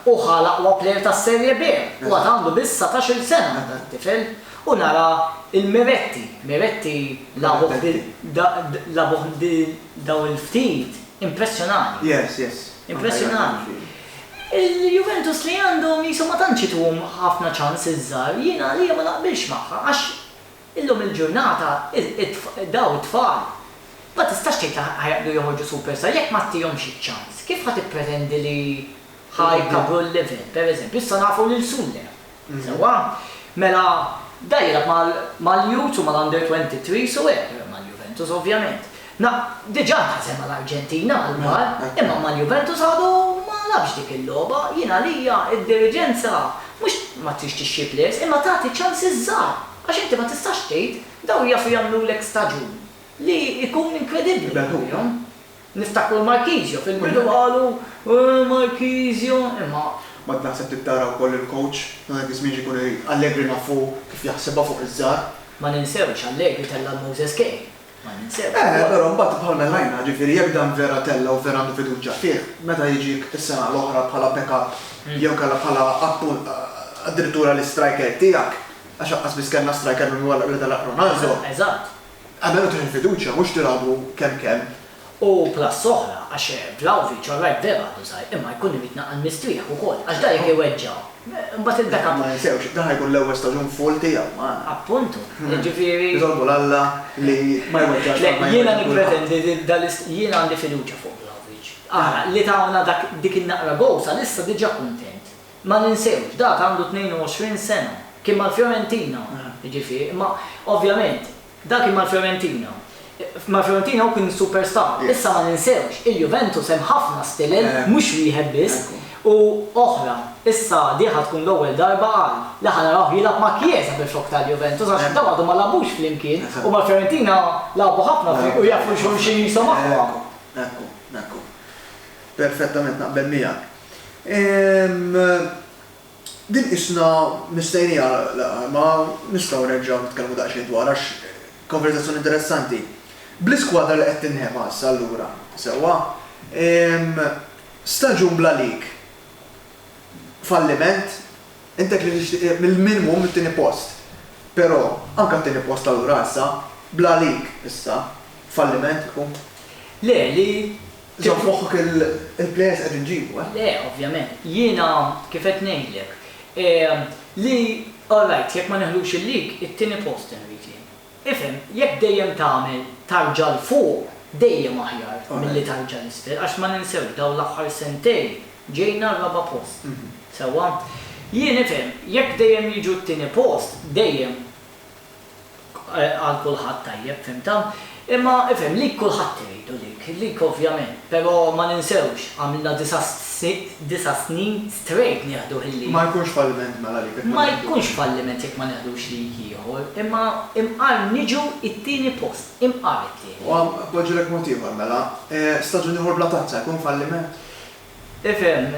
u ħa l-aqwa plejer tas-Serie B u għad għandu biss satax-il sena dan it-tifel. U nara l-meretti, meretti labuħ di labuħ di dawn il-ftit, impressjonani. Yes, yes. Impressjonani. Il-Juventus li għandhom qishom ma tantx ituhom ħafna ċans iż-żgħar, jien għalija ma naqbilx magħha għax illum il-ġurnata dawn it-tfal ma tistax tgħid li ħa jaqbdu joħorġu superstar jekk ma tihomx iċ-ċans. Kif ħa tippretendi li ħa jkabbru l-level, pereżempju, issa nafu lil Sulle. Sewwa? Mela, da jilgħab mal-youths u mal-under 23s u hekk, mal-Juventus ovvjament. Na, diġà nħasem mal-Arġentina għall-kbar, imma mal-Juventus għadu ma labx dik il-logħba. Jien għalija d-diriġenza mhux ma tridx tixxi plejers imma tagħti ċans iż-żgħar għax inti ma tistax tgħid dawn jafu jagħmlulek staġun li jkun inkredibbli għalihom. Niftakru l-Marchisio, fil-bidu qalu, Ooh Marchisio, imma. Ma naħseb trid tara wkoll il-coach ta' dak iż-żmien x'ikun irid. Allegri nafu kif jaħsibha fuq iż-żgħar. Ma ninsewx, Allegri tella' l-Moses Kean. Ma ninsewx. Eh, però mbagħad bħal Mellaina, ġifieri jekk dan vera tella' u vera għandu fiduċja fih, meta jiġik is-sena l-oħra bħala backup jew inkella bħala appunt addirittura l-istriker tiegħek, għax aqqas biss kellna striker minn wara li telaq Ronaldo. Eżatt. Qabel u tieħu l-fiduċja mhux tilgħabu kemm kemm. U plus oħra għax Vlahovic all right veru għadu żgħir imma jkun irid naqal mistrieħ ukoll għax da jekk iweġġa' mbagħad il-backup. Ma ninsewx, dan ħa jkun l-ewwel staġun full tiegħu magħna. Appuntu, jiġifieri. Nitolbu 'l Alla li ma jweġġax Le, jiena nippretendi li dal-ist jiena għandi fiduċja fuq Vlahovic. Ara, li tawna dak dik in-naqra goal sal-issa diġà kuntent. Ma ninsewx, dak għandu 22 sena. Kien mal-Fiorentina, jiġifieri, imma ovvjament dak kien mal-Fiorentina. Mal-Fiorentina hu kien superstar. Issa ma ninsewx, il-Juventus hemm ħafna stilel, mhux wieħed biss, u oħra. Issa di ħa tkun l-ewwel darba għal, li ħa narawh jilgħab ma' Chiesa fil-flokk tal-Juventus għax dawn għadhom ma lagħbux flimkien u mal-Fiorentina lagħbu ħafna flimkien u jafu xulxin qishom aħwa. Ekku, ekku, ekku. Perfettament naqbel miegħek. Ehm, din qisna mistennija laqgħa, imma nistgħu nerġgħu nitkellmu daqsxejn dwarha għax konverżazzjoni interessanti. Bl-iskwadra li qed tinħema issa allura, sewwa? Ehm, staġun bla lik. Falliment? Intek li tixtieq mill-minimu mit-tieni post. Però, anke t-tieni post allura issa, bla lik, issa, falliment ikun? Le, li? Żomm f'moħħok il-plejers qed inġibu, eh? Le, ovvjament. Jiena kif qed ngħidlek, li alright, jekk ma neħlux il-league, it-tieni post irrid jien. Ifhem, jekk dejjem tagħmel tarġa 'l fuq, dejjem aħjar milli tarġa 'l isfel għax ma ninsewx dawn l-aħħar sentejn ġejna r-raba' post. Sewwa? Jien, ifhem, jekk dejjem jiġu t-tieni post, dejjem għal kulħadd tajjeb fhimtha. Imma ifhem lik kulħadd iridu lik, lik ovvjament, però ma ninsewx għamilna disa' snin strejt nieħdu ħiliet. Ma jkunx falliment mela lik jekk ma neħdux. Ma jkunx falliment jekk ma neħdux lik ieħor, imma imqar niġu t-tieni post, imqar it-tieni. U poġġilek mod ieħor mela, staġun ieħor bla tazza jkun falliment? Ifhem,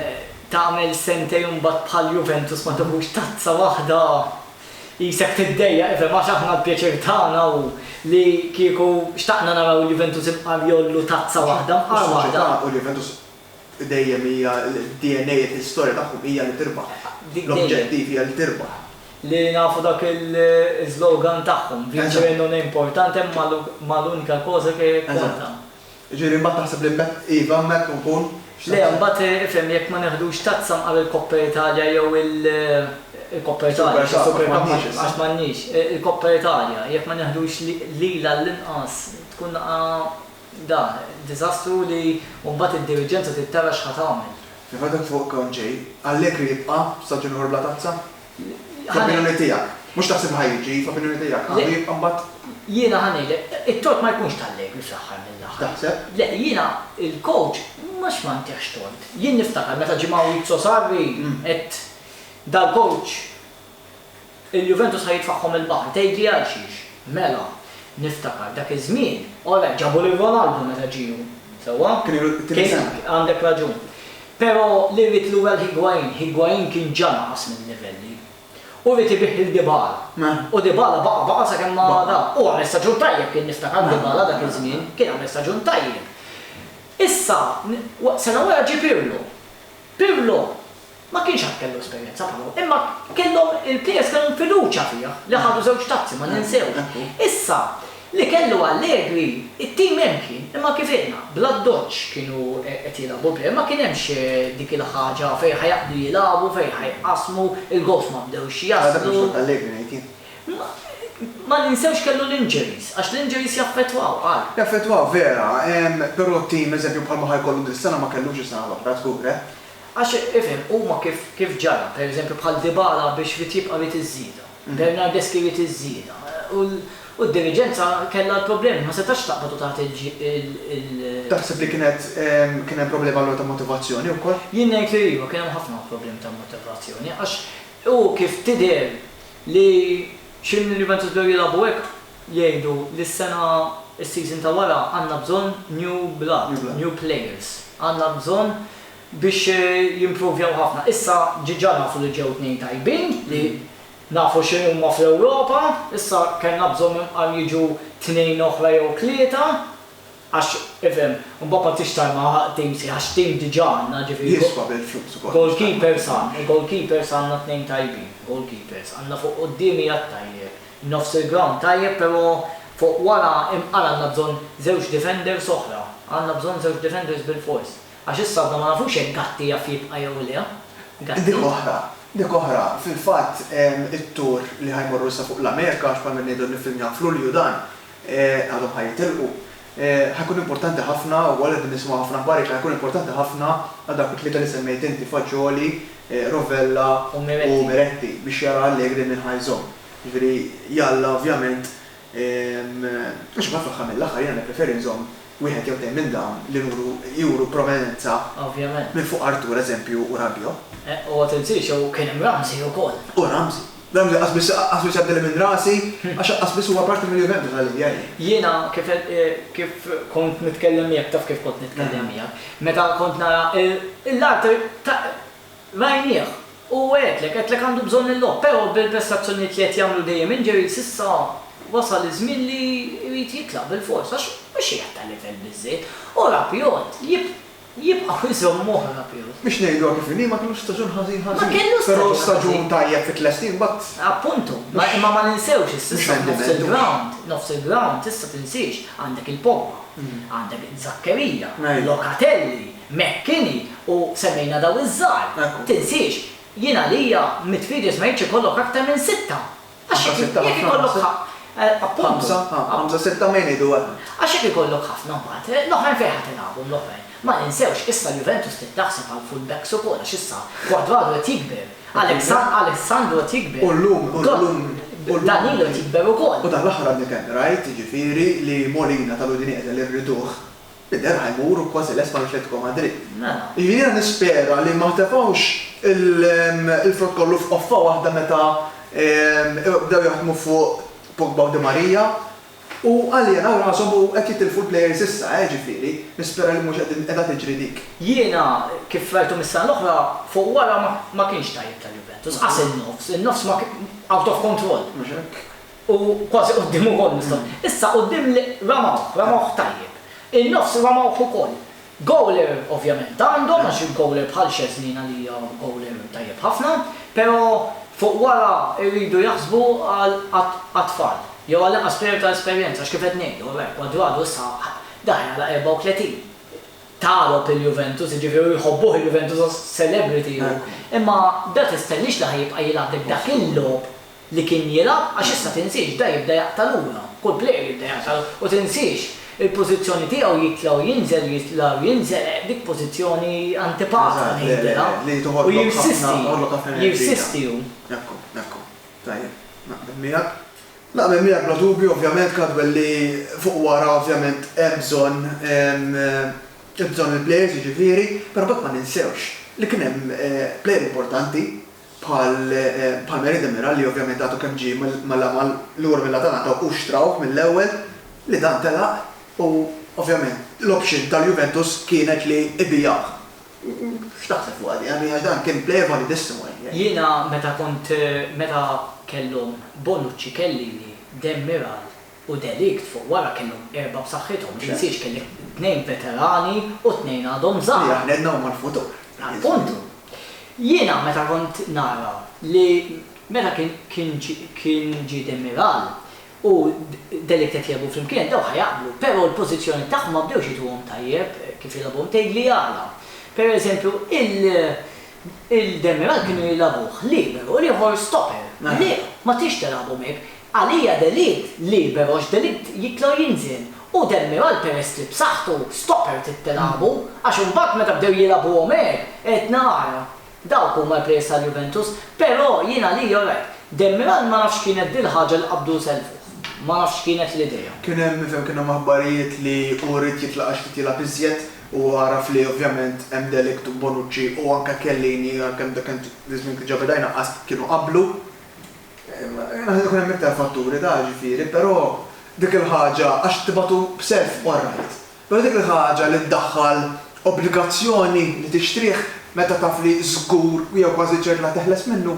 tagħmel sentejn u mbagħad bħal Juventus ma tiħux tazza waħda qisek tiddejjaq, ifhem, għax aħna l-pjaċir tagħna hu li kieku xtaqna naraw il-Juventus imqar jgħollu tazza waħda, mqar waħda. Is-soċjetà u l-Juventus dejjem hija d-DNA, l-istorja tagħhom hija li tirbaħ. L-objettiv hija li tirbaħ. Li nafu dak il-slogan tagħhom, vincere non è importante ma l'unica cosa che conta. Jiġifieri imbagħad taħseb li mett iva hemmhekk u nkun x'se Le imbagħad ifhem jekk ma neħdux tazza mqar il-Coppa Italia jew il-Coppa Italia Super Cup, Super Cup m'għandniex issa. għax m'għandniex, il-Coppa Italia jekk ma neħdux lil għall-inqas tkun daqqa da, diżastru li u mbagħad id-diriġenza trid tara x'ħa tagħmel. Fil-fatt jekk fuq Conte, Allegri jibqa' staġun ieħor bla tazza? F'opinjoni tiegħek. Mhux taħseb li ħa jiġi, f'opinjoni tiegħek għandu jibqa' mbagħad. Jiena ħa ngħidlek, it-tort ma jkunx t'Allegri fl-aħħar mill-aħħar. Taħseb? Le, jiena il-coach mhux ma ntihx tort. Jien niftakar meta ġie Maurizio Sarri għedt dal-coach il-Juventus ħa jitfagħhom il-baħar. Tgħidli għalxiex? Mela, niftakar dak iż-żmien, alright, ġabu lil Ronaldo meta ġie hu, sewwa? Kien ilu t-tieni sena. Għandek raġun. Pero li ried lura l-Higuain, Higuain kien ġa naqas minn livelli. U ried ibigħ lil Dybala. U Dybala baqa' baqa' sakemm ma da. U għamel staġun tajjeb kien niftakar Dybala dak iż-żmien, kien għamel staġun tajjeb. Issa, sena wara ġie Pirlo. Pirlo ma kienx għad kellu esperjenza bħalhom, imma kellhom il-plejers kellhom fiduċja fih li ħadu żewġ tazzi ma ninsewx. Issa, Li kellu Allegri, it-tim hemm kien, imma kif għidna, bl-addoċċ kienu qed jilagħbu bl-għerf, ma kien hemmx dik il-ħaġa fejn ħa jaqbdu jilagħbu, fejn ħa jqassmu, il-gowls ma bdewx jaslu. Ara dak li xtaqt Allegri ngħid jien. Ma ninsewx kellu l-injuries, għax l-injuries jaffettwaw, qal. Jaffettwaw, vera, però tim, eżempju, bħalma ħa jkollu dis-sena ma kellux is-sena l-oħra, żgur, eh. Għax, ifhem, huma kif ġara, pereżempju bħal Dybala biex rid jibqa' jrid iż-żieda. Bernard deskriviet iż-żieda u d-diriġenza kellha l-problemi, ma setgħetx taqbad u tagħti l. Taħseb li kienet kien hemm problemi allura ta' motivazzjoni wkoll? Jien ngħid li iva, kien hemm ħafna problemi ta' motivazzjoni għax hu kif tidher li xi minn Juventus bdew jilagħbu hekk jgħidu li s-sena, is-season ta' wara għandna bżonn new blood, new players, għandna bżonn biex jimpruvjaw ħafna. Issa diġà nafu li ġew tnejn tajbin li nafu x'inhuma fl-Ewropa, issa kellna bżonn imqar jiġu tnejn oħra jew tlieta għax ifhem, imbagħad ma tridx tarma tim sħiħ għax tim diġà għandna ġifieri Jiswa bil-flus ukoll. Goalkeepers għandna, goalkeepers għandna tnejn tajbin, goalkeepers. Għandna fuq quddiem qiegħed tajjeb, nofs il-ground tajjeb però fuq wara imqar għandna bżonn żewġ defenders oħra, għandna bżonn żewġ defenders bilfors. Għax issa għadna ma nafux jekk Gatti jaf jibqa' jew le. Gatti. Dik oħra. Dik oħra. Fil-fatt, it-tour li ħa jmorru issa fuq l-Amerika, għax bħalma qed ngħidu niffilmjaw f'Lulju dan, għadhom ħa jitilqu, ħa jkun importanti ħafna u wkoll qegħdin nisimgħu ħafna aħbar jekk ħa jkun importanti ħafna għal dawk it-tlieta li semmejt inti, Fagioli, Rovella u Miretti, biex jara Allegri min ħa jżomm. Jiġifieri, jalla ovvjament, Għax imbagħad fl-aħħar mill-aħħar jiena nippreferi nżomm wieħed jew tnejn minn dawn li nuru juru prominenza minn fuq Artur, eżempju, u Rabiot. U ma tinsiex jew kien hemm Ramsey ukoll. U Ramsey. Ramsey qas biss qas biss għaddili minn rasi għax qas biss huwa parti mill-Juventus għal idea hi. Jiena kif qed kif kont nitkellem miegħek taf kif kont nitkellem miegħek, meta kont nara l-Artur ta' Rajnieh. U għedlek, għedtlek għandu bżonn il-logħob, però bil-prestazzjonijiet li qed jagħmlu dejjem injuries issa wasal iż-żmien li jrid jitlaq bilfors għax mhux qiegħed ta' livell biżżejjed. U Rabiot jib, jibqgħu jżommuh Rabiot. Biex ngħiduha kif inhi ma kellux staġun ħażin ħażin. Ma kellux staġun ħażin. Però staġun tajjeb fi tlestin imbagħad. Appuntu. Imma ma ninsewx issa issa nofs il-ground, nofs il-ground issa tinsiex, għandek il-Pogba, għandek Zackeria, Locatelli, Mckinney u semmejna dawn iż-żgħar. Tinsiex, jien għalija mit videos ma jridx ikollok aktar minn sitta. Għax jekk jekk ikollok ħa, appuntu. Ħamsa, ha, ħamsa sitta minn idu waħda. Għax jekk ikollok ħafna mbagħad, l-oħrajn fejn ħa tilagħabhom l-oħrajn? Ma ninsewx, issa l-Juventus trid taħseb għal full backs ukoll għax issa Cuadrado qed jikber, Alexan, Alessandro qed jikber. U llum, u llum, u llum. Danilo qed jikber ukoll. U dan l-aħħar għadni kemm rajt, jiġifieri, li Molina tal-Udinese li rriduh, Jidher ħa jmur u kważi lest mal-Atletico Madrid. Mela. Jiena nispera li ma tefgħux il-frott kollu f'qoffa waħda meta bdew jaħdmu fuq Pogba u Di Maria u għaljenw rashom u qed jitilfu l-players issa, eh, ġifieri, nispera li mhux qegħdin qiegħda tiġri dik. Jiena kif rajthom is-sena l-oħra, fuq wara ma kienx tajjeb tal-Juventus, qas in-nofs, in-nofs ma kien out of control. Mhux hekk? U kważi quddiem ukoll nistgħu. Issa quddiem li ramawh, ramawh tajjeb. In-nofs ramawh ukoll. Gowler ovvjament għandhom għax il-gowler bħal Szczesny għalija gowler tajjeb ħafna, però fuq wara jridu jaħsbu għal għat-tfal jew għal inqas plejer ta' esperjenza għax kif qed ngħidu, oraj, Cuadrado issa daħel għal 34. Tagħrob il-Juventus, jiġifieri u jħobbuh il-Juventus għax celebrity hu, imma da tistennix li ħa jibqa' jilgħab b'dak il-logħob. li kien jilgħab għax issa tinsiex da jibda jaqta' lura, kull plejer jibda jaqta' lura u tinsiex il-pożizzjoni tiegħu jitla' u jinżel jitla' u jinżel eh dik pożizzjoni antipata ngħidilha u jirsisti jirsisti hu. Ekku, ekku. Tajjeb. Naqbel miegħek. Naqbel miegħek bla dubju ovvjament Caldwell li fuq wara ovvjament hemm bżonn il-bżonn il-plejers jiġifieri, però mbagħad ma ninsewx li kien hemm plejer importanti bħal Palmieri Demiral li ovvjament għadu kemm ġie mal-amal lura mill-Atalanta u xtrawh mill-ewwel, li dan telaq u ovvjament l-option tal-Juventus kienet li ibigħuh. X'taħseb fuqha din? Għax dan kien plejer validissimo. Jiena meta kont, meta kellhom Bonucci, Chiellini, Demiral, u De Ligt fuq wara kellhom erba' b'saħħithom, m'insiex kellek tnejn veterani u tnejn għadhom żgħar. Li aħna għedna huma l-futur. Appuntu. Jiena meta kont nara li meta kien ġie Demiral u De Ligt qed jilgħbu flimkien dawn ħa jaqblu, però l-pożizzjoni tagħhom ma bdewx jidhruhom tajjeb kif jilgħbuhom, tgħidli għala. Pereżempju il-Demiral kienu jilgħbuh liberu u l-ieħor stopper. Le, ma tridx tilgħabhom hekk. Għalija delitt liber għax delitt jitla' u jinżel u Demiral peress li b'saħħtu stopert it-tilabu għax imbagħad meta bdew jilagħbuhom hekk għedtna ara dawk huma l-players tal-Juventus però jien għalija alright. Demiral ma nafx x'kienet dil-ħaġa li qabdu sellfuh. Ma nafx x'kienet l-idea. Kien hemm nifhem kien hemm aħbarijiet li hu ried jitla' għax ried jilgħab iżjed u għaraf li ovvjament hemm de Ligt u Bonucci u anke Chiellini għalkemm dak iż-żmien kien ġa beda jnaqqas kienu qablu. Naħseb ikun hemm iktar fatturi ta' ġifieri, però dik il-ħaġa, għax tibatu b'self all right, però dik il-ħaġa li ddaħħal obbligazzjoni li tixtrih meta taf li żgur jew kważi ċert la teħles minnu.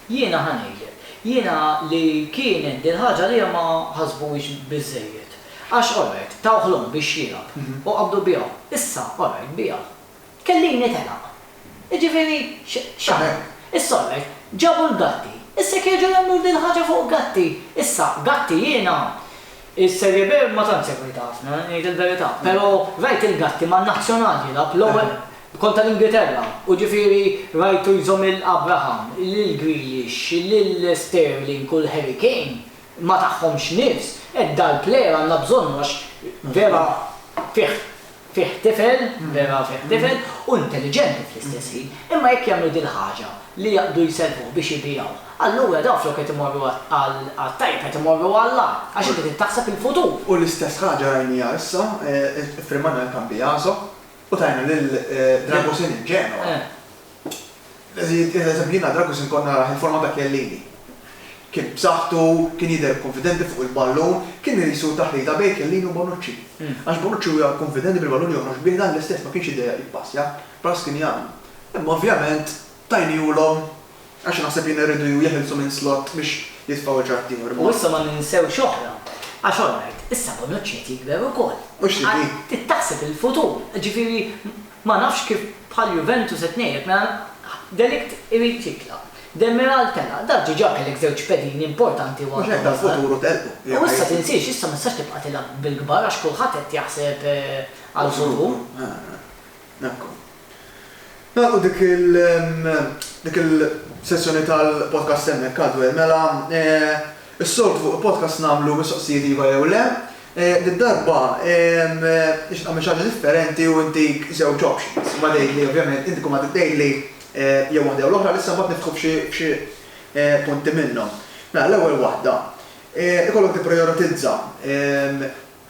Jiena ħa ngħidlek. Jiena li kienet dil-ħaġa għalija ma ħasbuhiex biżżejjed. Għax all right, tawh l-omm biex jilgħab u qabdu biegħu. Issa all right, biegħu. Tkellimni telaq. Jiġifieri x'għamel? Is-solvet ġabu l-Gatti. Issa jekk jerġgħu jagħmlu din il-ħaġa fuq Gatti. Issa, Gatti jiena is-Serie B ma tantx segwejtha ħafna, ngħid il-verità, però rajt lil Gatti man-Nazzjonal jilgħab, l-ewwel kont tal-Ingilterra, u ġifieri rajtu jżomm lil Abraham, lil Grealish, lil Sterling u l-Harry Kane, ma tahomx nifs. Hekk dal-player għandna bżonnu għax vera fih fih tifel, vera fih tifel, u intelliġenti fl-istess ħin, imma jekk jagħmlu dil-ħaġa li jaqbdu jserquh biex ibiegħuh, allura dawn flok qed imorru għat-tajjeb qed imorru għall-agħar, għax inti trid taħseb il-futur. U l-istess ħaġa rajniha issa, iffirmajna l-Cambiaso u tajna lil Dragusin in Genoa. It-tielet eżempju, jiena drabi kont inkun narah il-forma ta' Chiellini. Kien b'saħħtu, kien jidher kunfidenti fuq il-ballun, kien qisu taħlita bejn Chiellini u Bonucci. Għax Bonucci huwa kunfidenti bil-ballun joħroġ bih, dan l-istess ma kienx jidejjaq jippassja, bħal Skriniar. Imma ovvjament tajniehulhom għax naħseb jien irridu jew jeħilsu minn Slot biex jitfgħu lil xi ħadd ieħor. U issa ma ninsewx oħra, għax all right, issa Bonucci qed jikber ukoll. Mhux tibi. Trid taħseb il-futur, jiġifieri Ma nafx kif bħal Juventus qed ngħidlek mela de Ligt irid jitlaq, Demiral telaq, daf diġà kellek żewġ pedini importanti u għadhom żgħar. U issa tinsiex issa ma tistax tibqa' tilgħab bil-kbar għax kulħadd qed jaħseb għall-futur. Ekku. Nagħlqu dik il dik il sessjoni tal-podcast hemmhekk Cadwell mela Is-soltu fuq il-podcast nagħmlu mistoqsijiet iva jew le. Did-darba nixtieq nagħmel xi ħaġa differenti u ntik żewġ options. Imbagħad tgħidli ovvjament, inti kull ma trid tgħidli jew waħda jew l-oħra, issa mbagħad niftħu f'xi punti minnhom. Mela l-ewwel waħda, ikollok tipprijoritizza,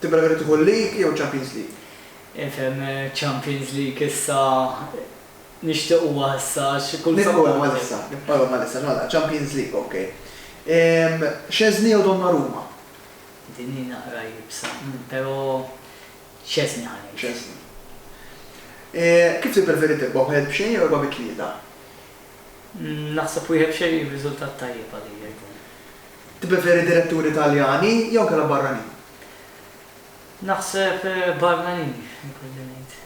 tippreferi tieħu l-League jew iċ-Champions League? Infhemm, iċ-Champions League issa. Nixtieq u għalissa għax kull sabbat. Nibqgħu għalissa, nibqgħu għalissa, nagħlaq, Champions League, ok. Szczesny jew Donnarumma? Din hi naqra iebsa, pero Szczesny ħa ngħid. Szczesny. Kif tippreferi tibqa' wieħed b'xejn jew erba' bi tlieta? Naħseb wieħed b'xejn hi riżultat tajjeb għalija jkun. Tippreferi diretturi Taljani jew inkella barranin? Naħseb barranin, ikolli ngħid.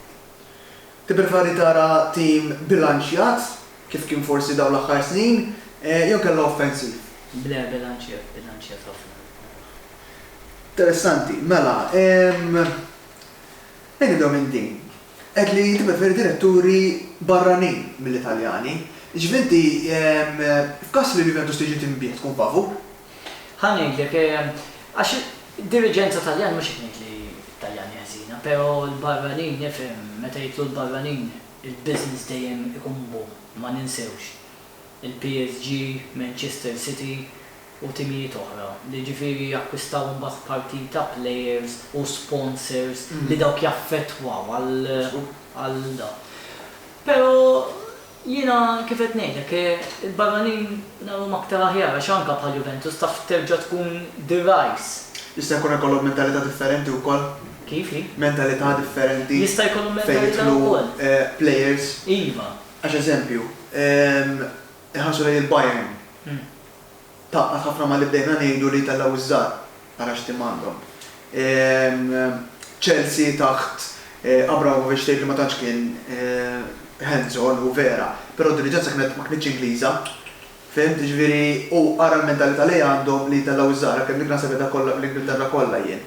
Tippreferi tara tim bilanċjat, kif kien forsi dawn l-aħħar snin, jew kellha offensiv? Le, bilanċjat, bilanċjat ħafna qed naraħ. Interessanti. Mela, ejja nibdew minn din. Għedt li tippreferi diretturi barranin milli Taljani. Jiġifieri inti, f'każ li l-Juventus tiġi tinbiegħ tkun favur? Ħa ngħidlek, għax id-diriġenza Taljana, mhux qed ngħid li t-Taljani ħżiena, pero l-barranin, nifhem, meta jidħlu l-barranin, il-business dejjem ikun boom, ma ninsewx. Il-PSG, Manchester City u timijiet oħra, li ġifieri jakkwistaw imbagħad parti ta' players u sponsors li dawk jaffettwaw għal dan. Pero, Jiena kif qed ngħidlek, il-barranin narhom aktar aħjar għax anke bħal Juventus taf terġa' tkun the rise. Jista' jkun ikollhom mentalità differenti wkoll. Kif hi? Mentalità differenti. Jista' jkollhom mentalità wkoll. Fejn jidħlu players. Iva. Għax eżempju, inħarsu lejn il-Bayern. Tgħaqqad ħafna ma' li bdejna ngħidu li jtellgħu ż-żgħar. Ara x'tim għandhom. Chelsea taħt Abramovich tgħid li ma tantx kien hands on u vera, però d-diriġenza kienet ma kinitx Ingliża. Fhimt? Jiġifieri u ara l-mentalità li għandhom li jtellgħu ż-żgħar, għalkemm dik naħseb qiegħda fl-Ingilterra kollha jien.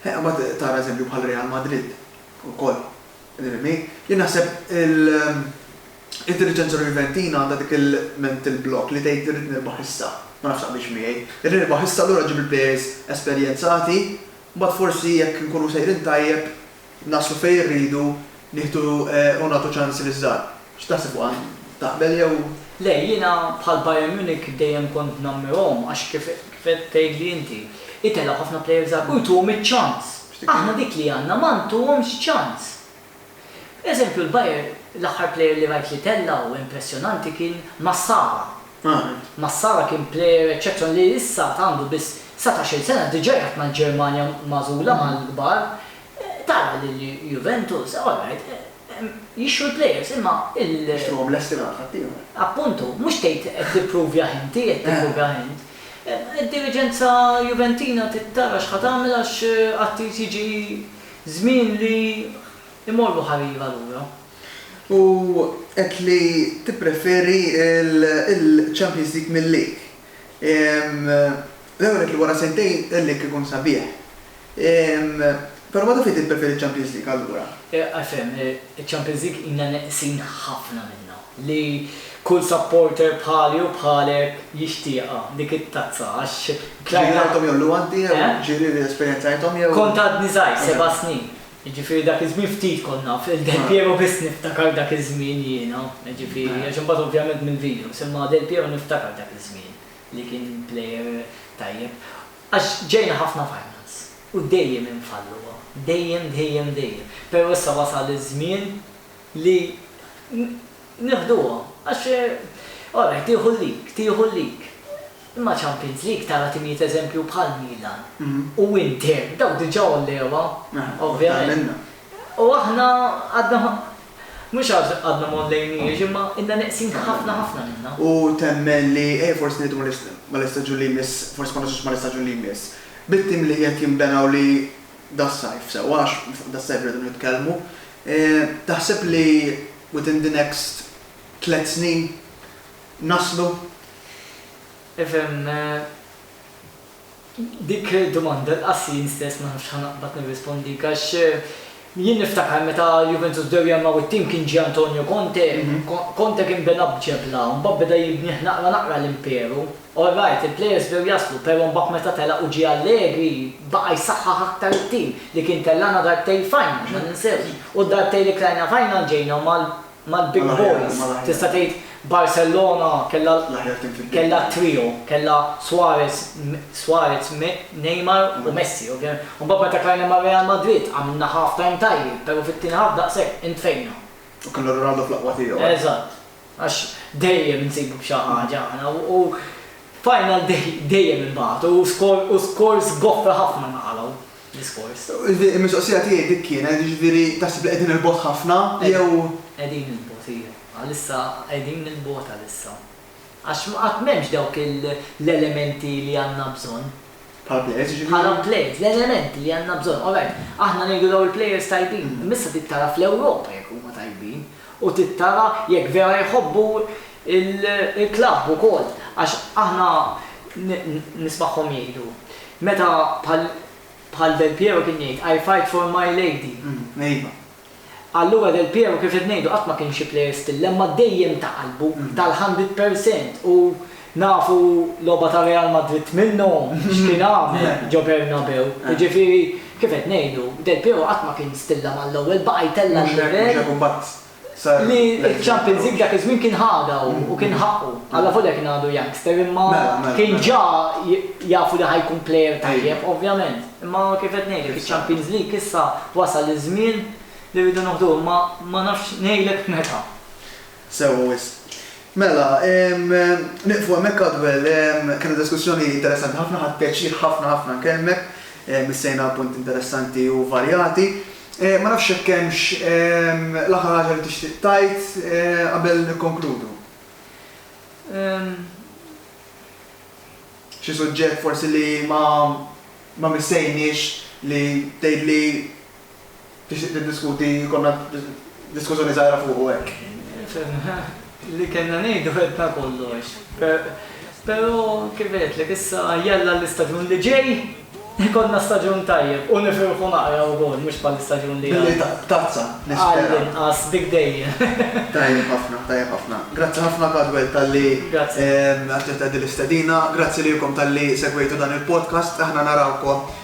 Imbagħad tara eżempju bħal Real Madrid ukoll. Jien naħseb il. Id-diriġenza Juventina għandha dik il-mental block li tgħid irrid nirbaħ issa. Ma nafx taqbilx miegħi. Irrid nirbaħ issa allura ġib il-plejers esperjenzati, mbagħad forsi jekk inkunu sejrin tajjeb naslu fejn irridu nieħdu u nagħtu ċans liż-żgħar. X'taħseb fuqha int? Taqbel jew. Le, jiena bħal Bayern Munich dejjem kont nammirhom għax kif qed tgħidli inti, itellgħu ħafna plejers żgħar u jtuhom iċ-ċans. Aħna dik li għandna ma ntuhomx ċans. Eżempju l-Bayern l-aħħar player li rajt li tella' u impressjonanti kien Massara. Massara kien player eċċezzjon li issa għad għandu biss satax-il sena diġa' jgħadd mal-Ġermanja magħżula mal-kbar. Tara lil Juventus, all right, jixtru l-players imma il. Jixtruhom lesti mingħand ħaddieħor. Appuntu, mhux tgħid qed tippruvjah inti, qed tippruvjah int. Id-diriġenza Juventina trid tara x'ħa tagħmel għax qatt irid jiġi Żmien li jmorru ħarira lura. U għedt li tippreferi l-Champions League mil-lig. L-ewwel għedt li wara sentejn il-lig ikun sabiħ. Però meta fihd li tippreferi ċ-Champions League allura? Għalfejn, iċ-Champions League ilna neqsin ħafna minnha. li kull supporter bħali u bħalek jixtieqha dik it-tazza għax Ġieli rajthom jew l-gwanti jew ġieli li esperjenzajthom jew. Kont għadni żgħir, seba' snin. Jiġifieri dak iż-żmien ftit kont naf il-Del Piero biss niftakar dak iż-żmien jiena, jiġifieri għax imbagħad ovvjament mill-videos, imma Del Piero niftakar dak iż-żmien li kien plejer tajjeb. Għax ġejna ħafna finals u dejjem infalluha, dejjem dejjem dejjem. Però issa wasal iż-żmien. li nieħduhom għax orajt tieħu l-league, tieħu l-league. Imma Champions League tara timijiet eżempju bħal Milan u Inter dawk diġà għollewha ovvjament. U aħna għadna mhux għax għadna ma għollejniex imma ilna neqsin ħafna ħafna minnha. U temmen li ejja forsi ngħidu mal-istaġun li jmiss, forsi ma nasluxx mal-istaġun li jmiss, bit-tim li qed jinbena u li das-sajf sewwa għax fuq das-sajf irridu nitkellmu, Taħseb li within the next tliet snin naslu? Ifhem, dik domanda lqas jien stess ma nafx ħa naqbad nirrispondik għax jien niftakar meta Juventus bdew jgħammgħu t-tim kien ġie Antonio Conte, Conte kien bena b'ġebla, mbagħad beda jibnih naqra naqra l-imperu. All right, il-players bdew jaslu pero mbagħad meta telaq u ġie Allegri baqa' jsaħħaħ aktar it-tim li kien tellagħna darbtejn final, ma ninsewx, u d-darbtejn li tlajna final ġejna mal-big boys, tista' tgħid Barcellona kellha kellha t-trio, kellha Suarez, Suarez, Neymar u Messi ovvjament. U mbagħad meta tlajna ma' Real Madrid għamilna half time tajjeb pero fit-tieni half daqshekk intfejna. U kellna Ronaldo fl-aqwa tiegħu. Eżatt. Għax dejjem insibu b'xi ħaġa aħna u final day dejjem inbagħtu u scores goffra ħafna naqalgħu l-iskors. Il-mistoqsija tiegħi dik kienet, jiġifieri taħseb li qegħdin il-bogħod ħafna jew. Qegħdin il-bogħod iva. Għalissa qegħdin il-bogħod għalissa. Għax qatt m'hemmx dawk l-elementi li għandna bżonn. Bħala players jiġifieri? Bħala players, l-elementi li għandna bżonn. Alright, aħna ngħidu dawn il-players tajbin, imma issa trid tara fl-Ewropa jekk huma tajbin. u tittara jekk vera jħobbu l-klabb ukoll għax aħna nismagħhom jgħidu meta bħal bħal Del Piero kien jgħid I fight for my lady. Iva. Allura Del Piero kif qed ngħidu qatt ma kien xi player stil-lemma dejjem ta' qalbu, tal-hundred percent u Nafu logħba ta' Real Madrid minnu x'kien għamel ġo Bernabeu. Jiġifieri, kif qed ngħidu, Del Piero qatt ma kien stilla mal-ewwel, baqa' jtella' l-livell li ċ-Champions League dak iż-żmien kien ħadha hu u kien ħaqqu. Allavolja kien għadu youngster imma kien ġa jafu li ħa jkun plejer tajjeb, ovvjament. Imma kif qed ngħidlek, iċ-Champions League issa wasal iż-żmien li rridu noħduh imma ma nafx ngħidlek meta. Sewwa wisq. Mela, nieqfu hemmhekk Adwell. Kellna diskussjoni interessanti ħafna, ħadt pjaċir ħafna ħafna nkellmek. Missejna punti interessanti u varjati. Ma nafx jekk hemmx l-aħħar ħaġa li tixtieq tgħid qabel nikkonkludu. Xi suġġett forsi li ma missejniex li tgħidli. Tixtieq tiddiskuti, jkollna diskużjoni żgħira fuqu hekk? Li kellna ngħidu għedna kollox. Però kif għedtlek issa jalla l-istaġun li ġej ikollna staġun tajjeb u nifirħu naqra wkoll mhux bħall-istaġun li għadda. Billi tazza nispera. Għall-inqas dik dejjem. Tajjeb ħafna, tajjeb ħafna. Grazzi ħafna Cadwell talli aċċettajt din l-istedina. Grazzi lilkom talli segwejtu dan il-podcast. Aħna narawkom.